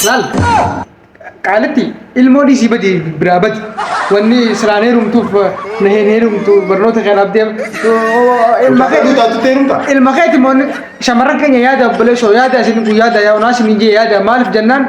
Laal qaalitti ilmoo dhiisii badi biraa badi wanni siraan heerumtuuf na hin heerumtu barnoota kanaaf deema. Ilma keetu taatu teerumta. Ilma keetu immoo shamarran keenya yaada obboleessoo yaada isin kun yaada yaa'u naas ni jee yaada maaliif jennaan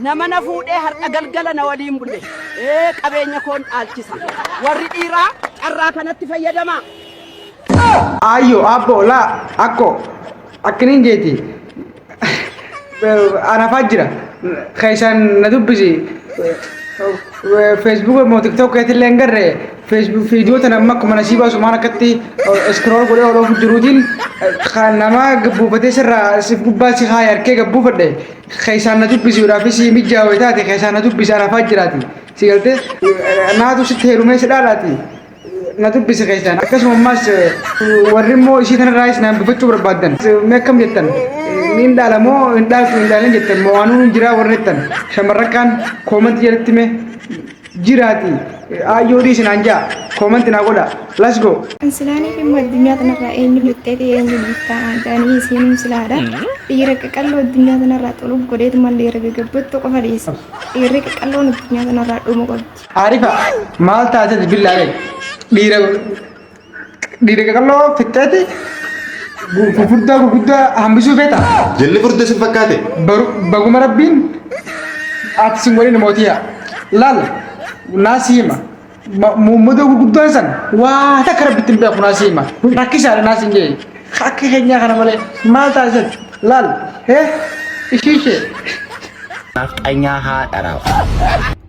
Nama na fuudhee har'a galgala na waliin bule qabeenya koon dhaalchisa. Warri dhiiraa carraa kanatti fayyadamaa. Aayyoo, aabboo, laa, akkoo, akkiniin jeeti. Anafaa jira. Keessaan na dubbisi. Feesbuuka immoo tiktookii illee hin garre. Viidiyoo tana amma akkuma nasii baasu maal akkatti iskrool godhee oloofu jiruutiin kan nama gabbuufatee sirraa si gubbaa si haaya harkee gabbuufadhe. Keessaan na dubbisi udhaafi sii mijjaa wayitaati keessaan na dubbisi ana faa jiraati si galte naatu sitti heerumee si dhaalaati na dubbisi keessaan akkasuma ammaas warri immoo isii tanarraayis naan dubbachuu barbaaddan mee akkam jettan niin dhaala moo hin dhaaltu hin dhaalin jettan moo waanuu hin jiraa warri jettan shamarrakkaan koomanti jalatti mee jiraati aayyoo dhiisi naan jaa koomanti naa godha let's go Silaanii fi immoo addunyaa tanarraa eenyu lixxee ta'e eenyu lixxaa aadaanii isiinuu silaadha. Dhiira qaqalloo addunyaa tanarraa xuluuf godheetu malee dhiira gaggabbattu qofa dhiisa. Dhiirri qaqalloon addunyaa tanarraa dhumu qabdi. Aarifa maal taatee billaalee dhiira Dhiira qaqalloo fixxeeti gurguddaa gurguddaa hambisuu feeta. Jilli furdee sin fakkaate. Baguma rabbiin ati sin waliin mootii yaa. Laal naasii hima. Muummadoo gurguddaa san waa takka rabbitti hin beeku naasii hima. Rakkisaadha naasii hin jedhe. Akka keenyaa kana malee maal taasisan laal ishee ishee. Nafxanyaa haadha raaf.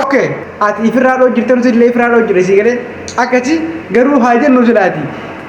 ok ati ifirraa dhoo jirta nuti illee ifirraa dhoo jirre sii galee akkasi garuu haa jennu silaati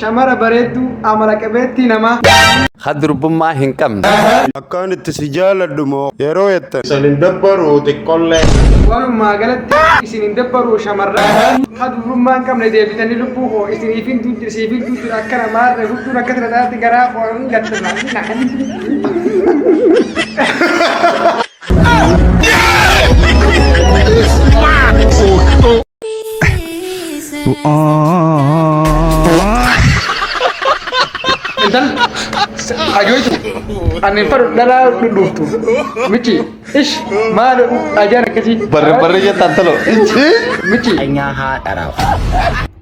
Shamara bareedduu amala qabeettii namaa. Ka durbummaa hin qabne. Akkaan itti si jaaladhu moo yeroo jettan. Isin hin dabbaruu xiqqollee. Walumaa galatti isin hin dabbaruu shamarran. Ka dubrummaa hin qabne deebitanii lubbuu koo isiniifin duutti siifin duutti akkana maarre hudduun akkatti na taatti garaa koo hin gatta maarre na kan hin duutti. Intal ajoitu anin fadhu dhala dhudhuftu michi ish maal ajaan akkasii Barre barre jettaan talo. michi Nyaa haa dharaaf.